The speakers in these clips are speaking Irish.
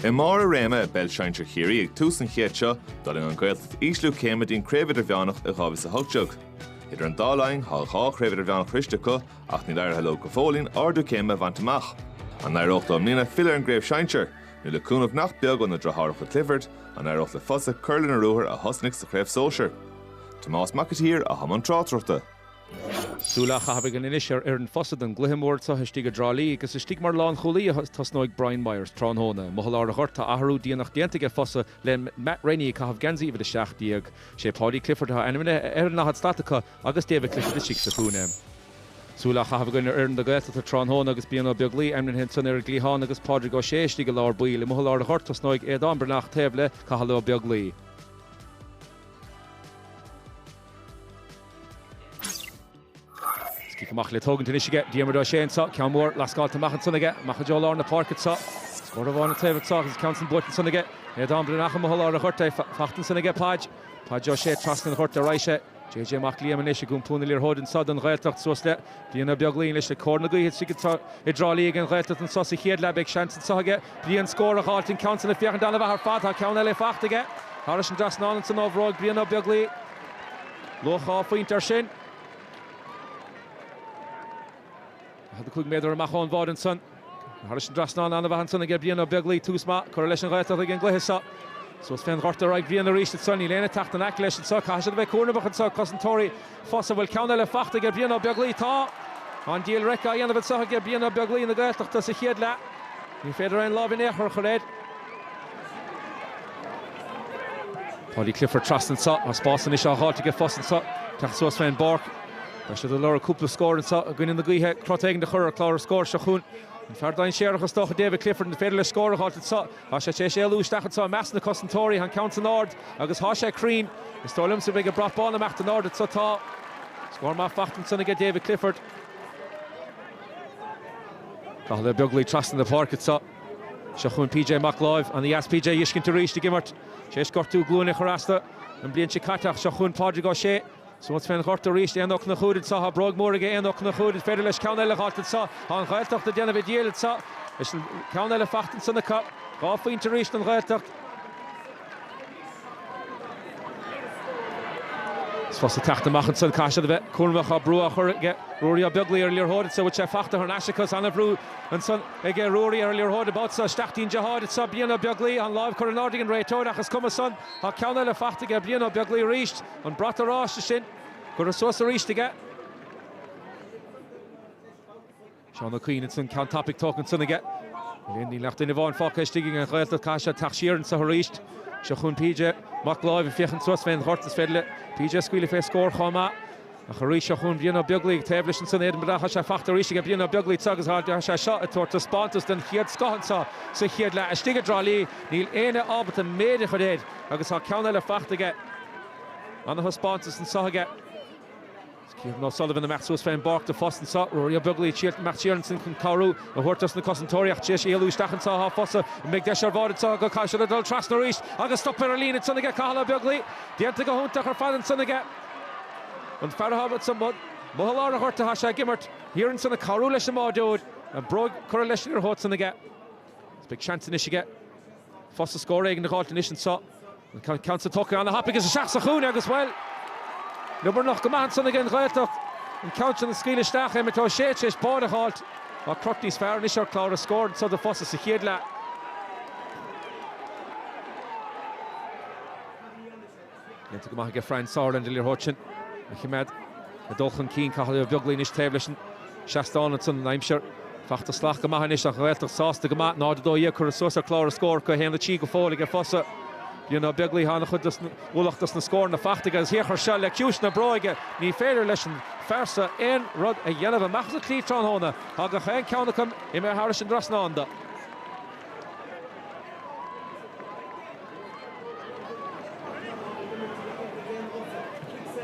I mbarr a réime i bPeil Sinsear Chiarraí ag tús an chéad seo, d'fhulaing an Ghaeltacht ísliú céime dtí an Chraobh Idirmheánach i 2018. Idir an dá linn, tá dhá Chraobh Idirmheánach sroiste acu ach níl éirithe leo go fóillín ardú céime a bhaint amach. An éireoidh leo i mbliana filleadh ar an gCraobh Sinsear? Nó le cúnamh nach beag ó na deartháireacha Clifford, an éireoidh le Fosa cur lena ruathar a thosnaigh sa Chraobh Sóisear? Tomás Mac an tSaoir atá i mbun tráchtaireachta. Súil á chaitheamh againn anois ar fhoireann Fosa don gcluiche mór seo istigh i dTrá Lí agus istigh mar lánchúlaí a thosnóidh Brian Myers tráthnóna. Amuigh i lár an ghoirt, tá athrú déanach déanta aige Fosa le Matt Rennie ag caitheamh geansaí uimhir 17. Sé Paudie Clifford atá ainmnithe ar an ndaichead slat acu agus David Clifford istigh sa chúinne. Súil á chaitheamh againn ar fhoireann na Gaeltachta tráthnóna agus Brian Ó Beaglaoich ainmnithe ansan ar an gcliathán agus Pádraig Ó Sé istigh i lár baill. Amuigh i lár an ghoirt tosnóidh Aodán Breathnach taobh le Cathal Ó Beaglaoich. Cic amach le tógaint anois aige, Diarmuid Ó Sé anseo, ceann mór lascáilte amach ansan aige, amach i dtreo lár na páirce anseo. Scór amháin an taobh anseo agus ceann san buaite ansan aige Aodán Breathnach amuigh i lár an ghoirt, fachta ansan aige Páid, Páid Ó Sé trasna an ghoirt ar aghaidh sé. JJ Mac Liam anois ag iompú na liathróide anseo don Ghaeltacht suas le Brian Ó Beaglaoich anois le cóir na gaoithe istigh anseo i dTrá Lí ag an Ghaeltacht anseo sa chéad leath. Beidh seans anseo aige Brian scór a dh'fháilt, an ceann san ag féachaint an-mhaith ar fad, tá ceann eile fachta aige thairis an dtrasnán ansan ó bhróig Brian Ó Beaglaoich. Luach dhá phointe ar sin. 45 méadar amach ón bháide ansan. Thairis an dtrasnán ana mhaith ansan aige Brian Ó Beaglaoich. Tús maith curtha leis an Ghaeltacht ag an gcluiche seo. Suas fén ghort ar aghaidh Bhriain arís ansan. Níl éinne teacht in aice leis ansan. Caithfidh siad a bheith cúramach ansan. Cosantóirí Fosa, bhfuil ceann eile fachta aige Brian Ó Beaglaoich. Tá an diabhal raic á dhéanamh ansan aige Brian Ó Beaglaoich na Gaeltachta sa chéad leath. Ní féidir aon lámh in aon chor a chur air. Paudie Clifford trasna anseo. Tá spás anois á dh'fháilt aige Fosa anseo. Teacht suas fén bpáirc. Beidh siad ag lorg cúpla scór anseo i gcoinne na gaoithe. Crot éigin a chur ar chlár an scóir seo chugainn. An fear dainséarach is dócha David Clifford. An féidir leis scór a dh'fháilt anseo? Tá sé tar éis éalú isteach anseo i measc na cosantóirí. Tá an ceann san ard agus tá sé cruinn. Is dóigh liomsa go mbeidh an brat bán ag imeacht in airde anseo. Tá scór maith fachta ansan aige David Clifford. Cathal Ó Beaglaoich trasna na páirce anseo. Seo chugainn PJ Mac Láimh. Ana dheas PJ a fheiscint arís ag imirt. Tar éis gortú glúine a chur as dó an bhliain seo caite ach seo chugainn Pádraig Ó Sé. Suas fén ghort arís Éanna Ó Conchúir anseo. Tá bróig mhór aige Éanna Ó Conchúir. Is féidir leis ceann eile a dh'fháilt anseo. Tá an Ghaeltacht a déanamh a díchill anseo. Is ceann eile fachta ansan acu. Dhá phointe arís don Ghaeltacht. Is Fosa ag teacht amach ansan caithfidh siad a bheith cúramach tá brú á chur ag Ruairí Ó Beaglaoich ar an liathróid anseo bhfuil sé fachta thar n-ais acu is an-bhrú ansan ag Ruairí ar an liathróid an babhta seo isteach dtí'n deartháir anseo Brian Ó Beaglaoich an láimh curtha in airde ag an réiteoir ach is cuma san tá ceann eile fachta ag Brian Ó Beaglaoich arís an brat oráiste sin curtha suas arís aige. Seán Ó Cuinn ansin, ceann tapaidh tógtha ansin aige. Níl aon duine amháin fágtha istigh aige an Ghaeltacht, caithfidh sé teacht siar anseo arís. Seo chugainn PJ Mac Láimh ag féachaint suas fén ghort, is féidir le PJ a scaoileadh fé scór chomh maith. Ach arís seo chugainn Brian Ó Beaglaoi taobh leis ansin, Aidan Breathnach, tá sé fachta arís aige Brian Ó Beaglaoi anseo agus tá sé seo ag tabhairt taispeántas den chéad scoth anseo sa chéad leath istigh i dTrá Lí. Níl éinne ábalta an méid a chur air agus tá ceann eile fachta aige. Ana-thaispeántas anseo aige. Stephen O'Sullivan ag imeacht suas fén bpáirc do Fossa anseo. Ruairí Ó Beaglaoich siar imeacht siar ansin chun cabhrú a thabhairt dos na cosantóirí ach tar éis éalú isteach anseo athá Fossa an mbeidh deis ar bháide anseo acu caithfidh siad a dhul trasna arís agus stop ar an líne ansin aige Cathal Ó Beaglaoi déanta go hiontach ar fad ansin aige an fear athá rud sa mbod mo sholáthar a dhoirt athá sé ag imirt thiar ansin ag cabhrú leis an mbáideoir an bróig curtha leis an liathróid san aige is beidh seans anois aige Fossa scór éigin a dh'fháilt anois anseo. An ceann san tógtha ana thapaidh is isteach sa chúinne agus bhuel, liobarnach go maith ansan aige an Ghaeltacht. An ceann sin a scaoileadh isteach Emmet Ó Sé, tar éis báide a dh'fháilt. Tá cruth níos fearr anois ar chlár na scór anseo do Fossa sa chéad leath. Déanta go maith aige Franz Sauerland, an liathróid sin a choimeád ag dul chun cinn. Cathal Ó Beaglaoi anois taobh leis an seastán ansan, an aimsir fachta salach go maith anois ach an Ghaeltacht sásta go maith, 0-12 curtha suas ar chlár an scóir acu, 1-3 go fóill aige Fossa. Brian Ó Beaglaoi thá ana-chuid den ualach dos na scóranna fachta aige agus féach air seo le ciumhais na bróige. Ní féidir leis an fear seo aon rud a dhéanamh amach as an slí tráthnóna. Thá gach aon cheann acu imithe thairis an dtrasnán do.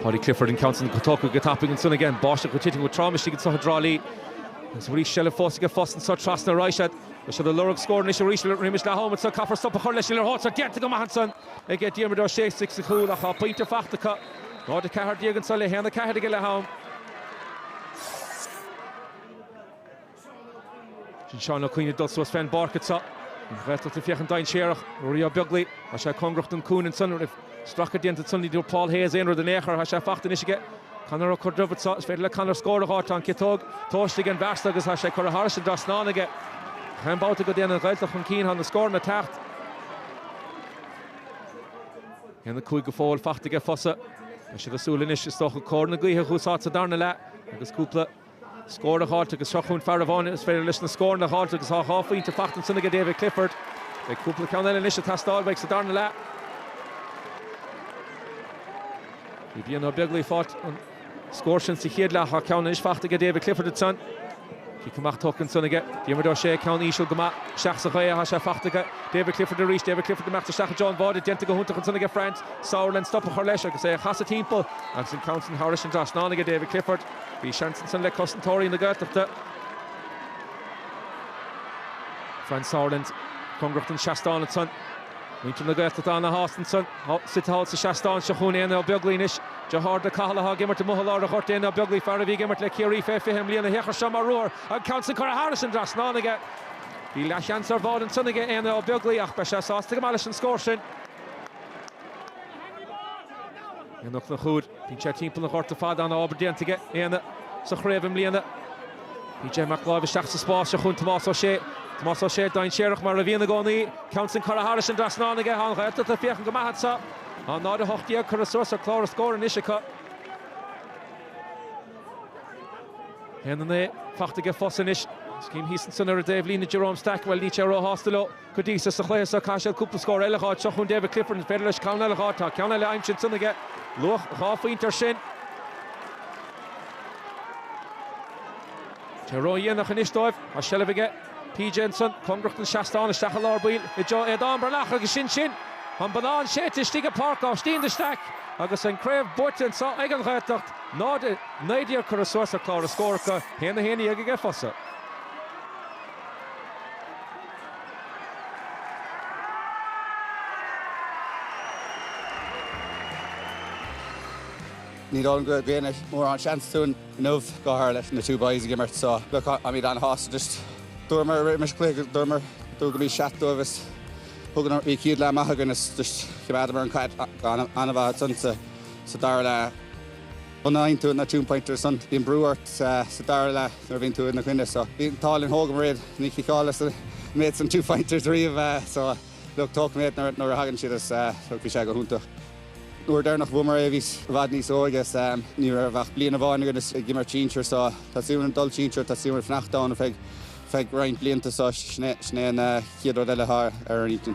Paudie Clifford an ceann san tógtha go tapaidh ansan aige an bháisteach ag titim go trom istigh anso i dTrá Lí agus bhí seilbh fós aige Fossa anso trasna arís iad tá siad ag lorg scór anois arís roimis leath am anso caithfear stop a chur leis an liathróid déanta go maith ansan aige Diarmuid Ó Sé istigh sa chúl ach tá pointe fachta acu 0-14 anso le 1-4 aige leath am. Sin Seán Ó Cuinn ag dul suas fé an bpáirc anseo. An Ghaeltacht ag féachaint dainséarach. Ruairí Ó Beaglaoi, tá sé cóngarach don cúinne ansan. An raibh stracadh déanta ansan? Ní dúirt Paul Hayes aon rud in aon chor. Tá sé fachta anois aige. Conor Ó Corrduibh anseo. Is féidir le Conor scór a dh'fháil. Tá an ciotóg tomhaiste aige an bhfear so agus tá sé curtha thairis an dtrasnán aige. Gach aon babhta go dtéann an Ghaeltacht chun cinn? Tá na scóranna ag teacht. 1, 5 go fóill fachta aige Fossa. Tá siad ag súil anois is dócha cóir na gaoithe a dh'úsáid sa darna leath agus cúpla Scór a dh'fháilt agus seo chugainn fear amháin is féidir leis na scóranna a dh'fháilt agus tá dhá phointe fachta ansin aige, David Clifford. Beidh cúpla ceann eile anois ag teastáil uaidh sa darna leath. Bhí Brian Ó Beaglaoi ag fáilt an scór sin sa chéad leath thá ceann anois fachta aige, David Clifford ansan. Cic amach tógtha ansan aige, Diarmuid Ó Sé, ceann íseal go maith, isteach sa ghaoth thá sé fachta aige, David Clifford arís, David Clifford ag imeacht isteach i dtreo an bháide, déanta go hiontach ansan aige Franz Sauerland stop a chur leis agus é a chasadh timpeall agus an ceann sin thairis an dtrasnán aige, David Clifford. Bhí seans ansan le cosantóirí na Gaeltachta, Franz Sauerland cóngarach don seastán ansan. Muintir na Gaeltachta ana-shásta ansan. Suite thall sa seastán seo chugainn Éanna Ó Beaglaoí anois. Deartháir do Cathal atá ag imirt amuigh i lár an ghoirt. Éanna Ó Beaglaoí, fear a bhí ag imirt le Ciarraí fé 20 i mbliana, féach air seo mar ruathar. An ceann san curtha thairis an dtrasnán aige. Bhí leathsheans ar bháide ansan aige Éanna Ó Beaglaoí ach beidh sé sásta go maith leis an scór sin. Éanna Ó Conchúir. Bíonn sé timpeall an ghoirt ar fad, an-obair déanta aige Éanna sa chraobh i mbliana. PJ Mac Láimh isteach sa spás seo chun Tomás Ó Sé. Tomás Ó Sé, dainséarach mar a bhíonn i gcónaí, ceann san curtha thairis an trasnán aige tá an Ghaeltacht ag féachaint go maith anseo. 0-18 curtha suas ar chlár an scóir anois acu. 1-9 faighte aige Fossa anois. Is chím thíos ansan ar an dtaobhlíne Jerome Stack, bhuel, níl sé ró-shásta leo. Go dtí so sa chluiche so caithfidh siad cúpla scór eile a dh'fháil seo chun David Clifford an féidir leis ceann eile a dh'fháil tá ceann eile aimsithe ansan aige. Luach dhá phointe air sin. Tá sé ró-dhéanach anois dóibh tá seilbh aige PJ ansan cóngarach don seastán isteach i lár baill i dtreo Aodán Breathnach agus sin sin an bonnán séite istigh i bPáirc Aibhistín de Staic agus an craobh buaite anso ag an Ghaeltacht 0 19 curtha suas ar chlár an scóir acu 1 11 aige Fossa. Ní dóigh liom go dtug éinne mórán seans dúinn inniu, go háirithe leis na two boys ag imirt. So, look, táimid an-shásta just. Dúramar roimis an chluiche, dúramar go mbeadh seacht dóibh is thug an chéad leath amach againn is just, choimeádamar an chaid go han-mhaith ansan sa dara leath. B'ionann tú na two-pointers san, bíonn brú ort sa dara leath nuair a bhíonn tú ina choinne so bhí an t-ádh linn thógamair iad ní chiceálas an méid san two-pointers riamh so look tógfaidh mé iad nuair a thagann siad is look bhí sé go hiontach. An uair dheireanach a bhuamair é bhíos i bhfad níos óige is ní raibh ach bliain amháin againn ag imirt sinsir so teastaíonn uainn dul sinsir teastaíonn uainn fanacht ann feadh feadh roinnt blianta so sin é sin é an chéad rud eile atá ar ár n-intinn.